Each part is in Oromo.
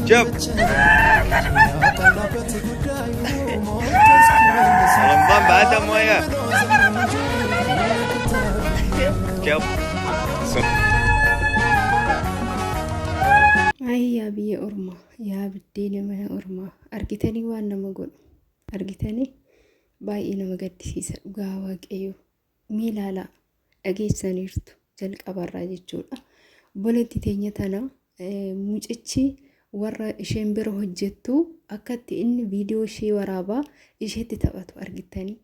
Jab. Lambang banget semuanya. Jab. Ayi yaa biyya ormaa yaa biddeena mana ormaa argitanii waan nama godhu argitanii baay'ee nama gaddisiisa dhugaa waaqayyoo Mee ilaalaa dhageessaniirtu jalqabarraa jechuudha. Obboleetti teenya tana mucichi warra isheen bira hojjettu akkatti inni viidiyoo ishee waraabaa isheetti taphatu argittanii.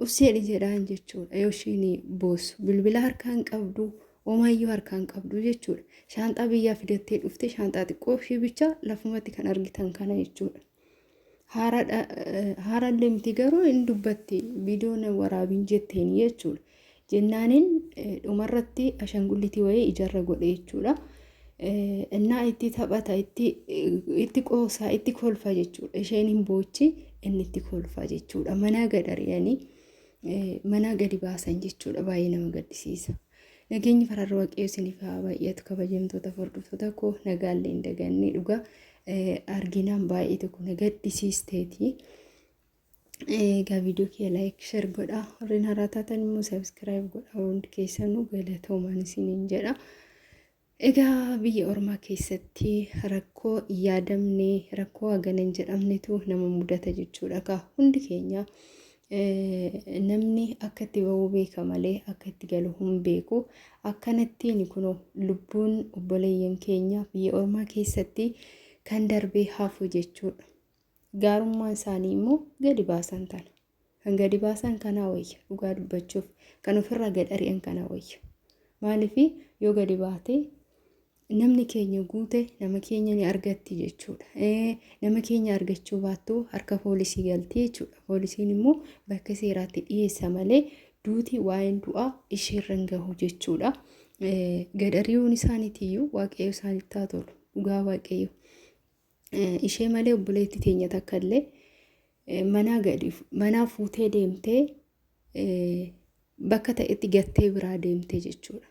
Usseedhi jedhaan jechuudha yoo isheen boosu bilbila harkaan qabdu omaayyuu harkaan qabdu jechuudha. Shaanxaa biyyaa fidattee dhufte shaanxaa xiqqoo ishee bicha lafumatti kan argitan kana jechuudha. Haara deemti garuu hin dubbatti viidiyoon waraabiin jetteen jechuudha. Jennaaniin dhumarratti ashangullitii wayii ijarra godhe jechuudha. Innaa itti taphata itti qoosaa itti kolfa jechuudha. Isheen hin boochi inni itti kolfa jechuudha. Manaa gad ari'anii manaa gadi baasan jechuudha. Baay'ee nama gaddisiisa. Nageenyi fararra waaqayyo isiniif haa baay'atu kabajamtoota hordoftoota koo nagaallee hin daganne dhugaa arginaan baay'ee tokko na gaddisiisteeti. Egaa viidiyoo kee laayik shar godhaa warreen haaraa taatan immoo sabiskiraayib godhaa hundi keessanuu galatoomaan isiniin jedha. Egaa biyya ormaa keessatti rakkoo yaadamne rakkoo hagana hin jedhamnetu nama mudata jechuudha kaa hundi keenya namni akka itti ba'uu beeka malee akka itti galu hin beeku akkanattiin kun lubbuun obboleeyyan keenya biyya ormaa keessatti kan darbee hafu jechuudha gaarummaan isaanii immoo gadi baasan tana. Kan gadi baasan kanaa wayya dhugaa dubbachuuf kan ofirraa gad ari'an kanaa wayya. Maaliif yoo gadi baate namni keenya guute nama keenya ni argatti jechuudha. Nama keenya argachuu baattu harka poolisii galti jechuudha. Poolisiin immoo bakka seeraatti dhiyeessa malee duuti waa'een du'aa isheerra hin gahu jechuudha. Gad ari'uun isaaniitiyyuu waaqayyo isaanitti haa tolu dhugaa waaqayyo. ishee malee obboleetti teenya takka illee manaa gadi manaa fuutee deemtee bakka ta'etti gattee biraa deemtee jechuudha.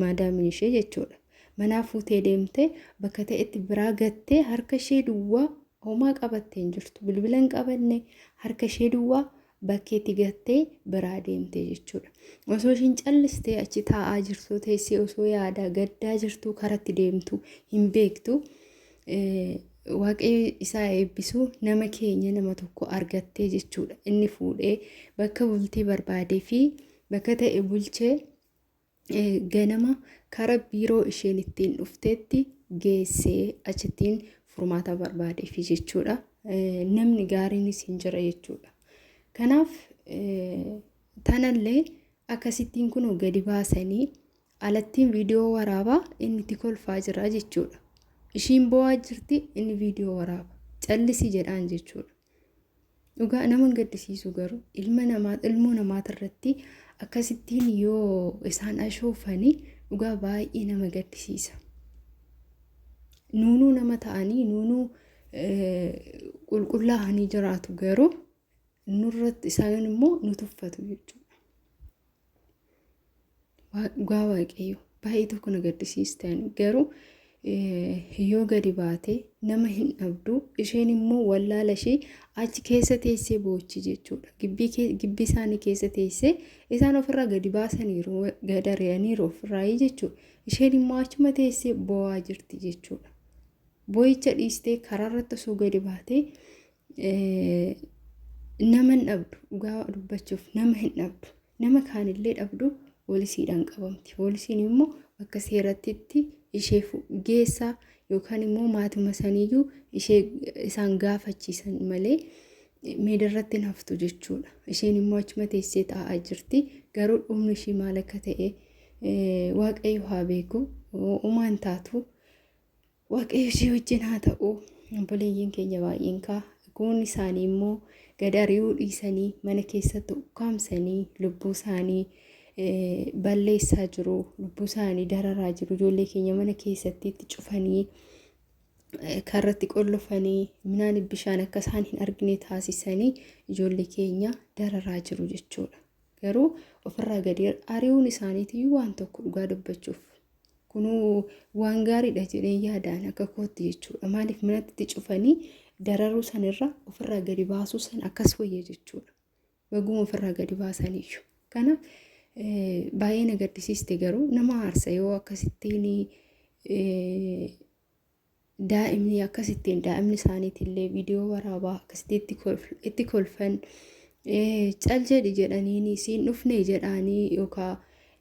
Maadaamiin ishee jechuudha. Manaa fuutee deemtee bakka ta'etti biraa gattee harka ishee duwwaa homaa qabattee hin jirtu. Bilbila hin qabanne harka ishee duwwaa bakkeetti gattee biraa deemte jechuudha. Osoo ishiin callistee achi taa'aa jirtuu teessee osoo yaadaa gaddaa jirtuu karatti deemtu hin beektu. Waaqayyo isaa eebbisuu nama keenya nama tokko argattee jechuudha. Inni fuudhee bakka bultii barbaadee fi bakka ta'e bulchee ganama kara biiroo isheen ittiin dhufteetti geessee achittiin furmaata barbaadeefi jechuudha. Namni gaariinis hin jira jechuudha. Kanaaf tanallee akkasittiin kunoo gadi baasanii alattiin viidiyoo waraabaa inni itti kolfaa jira jechuudha. Ishiin bo'aa jirti inni viidiyoo waraaba. Callisi jedhaan jechuudha. Dhugaa nama hin gaddisiisu garuu ilma namaa ilmoo namaatirratti akkasittiin yoo isaan ashoofanii dhugaa baay'ee nama gaddisiisa. Nuunuu nama ta'anii nuunuu qulqullaa'anii jiraatu garuu nurratti isaan immoo nu tuffatu jechuudha. Dhugaa waaqayyo baay'ee tokko na gaddisiistan garuu yoo gadi baate nama hin dhabdu isheen immoo wallaala ishee achi keessa teessee boochi jechuudha gibbii isaanii keessa teessee isaan ofirraa gadi baasaniiru gad ari'aniiru ofirraayii jechuudha isheen immoo achuma teessee boo'aa jirti jechuudha boo'icha dhiistee karaarratti osoo gadi baatee Nama hin dhabdu dhugaa dubbachuuf nama hin dhabdu nama kaanillee dhabdu poolisiidhaan qabamti poolisiin immoo akka seerattitti ishee geessa yookaan immoo maatuma saniyyuu ishee isaan gaafachiisan malee meedarratti hin haftu jechuudha isheen immoo achuma teessee taa'aa jirti garuu dhumni ishii maal akka ta'e waaqayyo haa beeku uumaan taatu. Waaqayyo si wajjin haa ta'u. Obboleeyyiin keenya baay'een kaa goonni isaanii immoo gad ari'uu dhiisanii mana keessatti ukkaamsanii lubbuu isaanii balleessaa jiru. Lubbuu isaanii dararaa jiru. Ijoollee keenya mana keessatti itti cufanii karratti qollofanii minaan bishaan akka isaan hin argine taasisanii ijoollee keenya dararaa jiru jechuudha. Garuu ofirraa gadi ari'uun isaaniitiyyuu waan tokko dhugaa dubbachuuf. Kunuu waan gaariidha jedhee yaadaan akka kootti jechuudha. Maaliif manatti cufanii dararuu sanirra ofirraa gadi baasuu san akkas wayya jechuudha. Baguma ofirraa gadi baasaniyyuu. Kanaaf baay'ee na gaddisiiste garuu nama aarsa yoo akkasittiin daa'imni akkasittiin daa'imni isaaniitillee viidiyoo waraabaa akkasitti itti kolf- itti kolfan eh, cal jedhi jedhaniini siin dhufne jedhaanii yookaa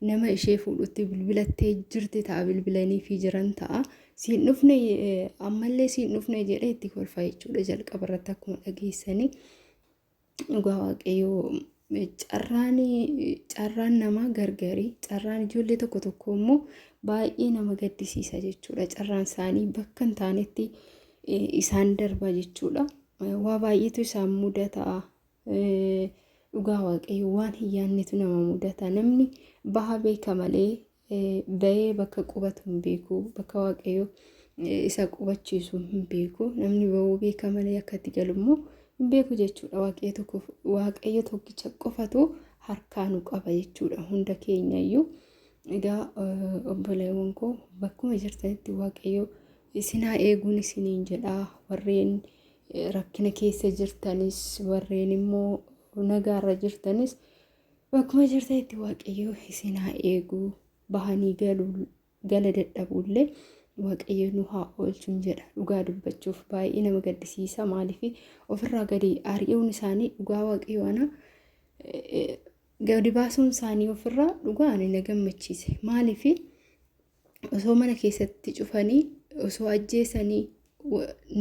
nama ishee fuudhutti bilbilattee jirti ta'a bilbilaniifii jiran ta'a siin dhufne eh, ammallee siin dhufne jedhee itti kolfa jechuudha jalqaba irratti akkuma dhageessanii. Dhugaa waaqayyoo carraan carraan namaa gargari carraan ijoollee tokko tokko immoo baay'ee nama gaddisiisa jechuudha carraan isaanii bakka hin taanetti eh, isaan darba jechuudha Eh, waa baay'eetu isaan mudata Eh, dhugaa waaqayyoo waan hin yaannetu nama mudata namni baha beeka malee Ba'ee bakka qubatu hin beeku. Bakka waaqayyo isa qubachiisu hin beeku. Namni ba'uu beeka malee akka itti galu immoo hin beeku jechuudha. Waaqayyo tokko waaqayyo tokkicha qofatu harkaa nu qaba jechuudha. Hunda keenya iyyuu egaa obboleewwan koo bakkuma jirtanitti waaqayyo isin haa eeguun isiniin jedha. Warreen rakkina keessa jirtanis warreen immoo nagaarra jirtanis Bakkuma jirtanitti waaqayyoo isin haa eeguu bahanii galuu gala dadhabuullee waaqayyo nu haa oolchuun jedha dhugaa dubbachuuf baay'ee nama gaddisiisa maaliif ofirraa gadi ari'uun isaanii dhugaa waaqayyo ana gadi baasuun isaanii ofirraa dhugaa ani na gammachiise maaliif osoo mana keessatti cufanii osoo ajjeesanii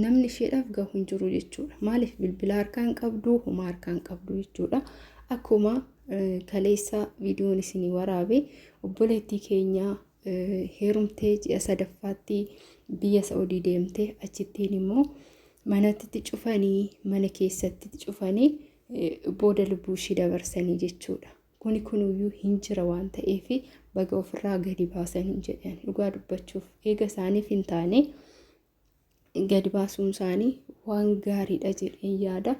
namni isheedhaaf gahu hin jiru jechuudha. Maaliif bilbila harkaan qabdu homaa harkaan qabdu jechuudha. Akkuma kaleessa viidiyoon isinii waraabe obboleettii keenya heerumtee ji'a sadaffaatti biyya Sa'udii deemte achittiin immoo manatti cufanii mana keessatti cufanii booda lubbuu ishii dabarsanii jechuudha. Kuni kunuyyuu hin jira waan ta'eef baga ofirraa gadi baasanii jedhan dhugaa dubbachuuf eega isaaniif hin taane gadi baasuun isaanii waan gaariidha jedheen yaada.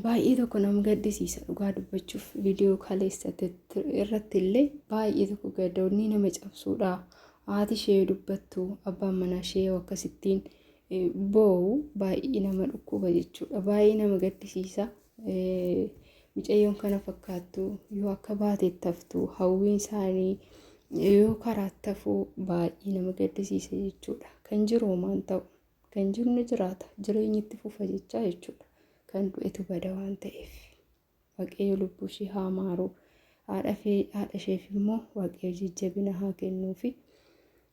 Baay'ee tokko nama gaddisiisa dhugaa dubbachuuf viidiyoo kaleessatti irratti illee baay'ee tokko gadoonni nama cabsuudha. Haati ishee dubbattu abbaan manaa ishee akkasittiin boo'u baay'ee nama dhukkuba jechuudha. Baay'ee nama gaddisiisa. Micayyoon kana fakkaattu yoo akka baateetti haftu hawwiin isaanii yoo karaatti hafuu baay'ee nama gaddisiisa jechuudha. Kan jiru homaan ta'u kan jiru ni jiraata jireenyi itti fufa jechaa jechuudha. Kan du'etu bada waan ta'eef waaqayyo lubbuu ishee haa maaru haadha isheef immoo waaqayyo jajjabina haa kennuufi.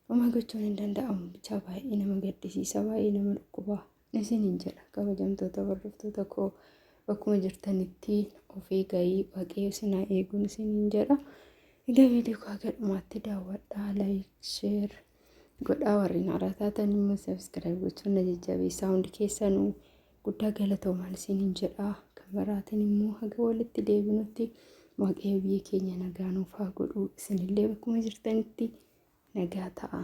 Homaa gochuun hin danda'amu bichaa baay'ee nama gaddisiisa baay'ee nama dhukkubaa. isiniin jedha kabajamtoota hordoftoota koo bakkuma jirtanitti of eegaii waaqayyo isin haa eeguun isiniin jedha egaa viidiyoo koo haga dhumaatti daawwadhaa laayik sheer godhaa warreen haaraa taatan immoo sabiskiraayib gochuun na jajjabeessaa hundi keessanuu guddaa galatoomaan isiniin jedha kan biraatiin immoo haga walitti deebinutti waaqayyo biyya keenya nagaa nuuf haa godhu isinillee bakkuma jirtanitti nagaa ta'a.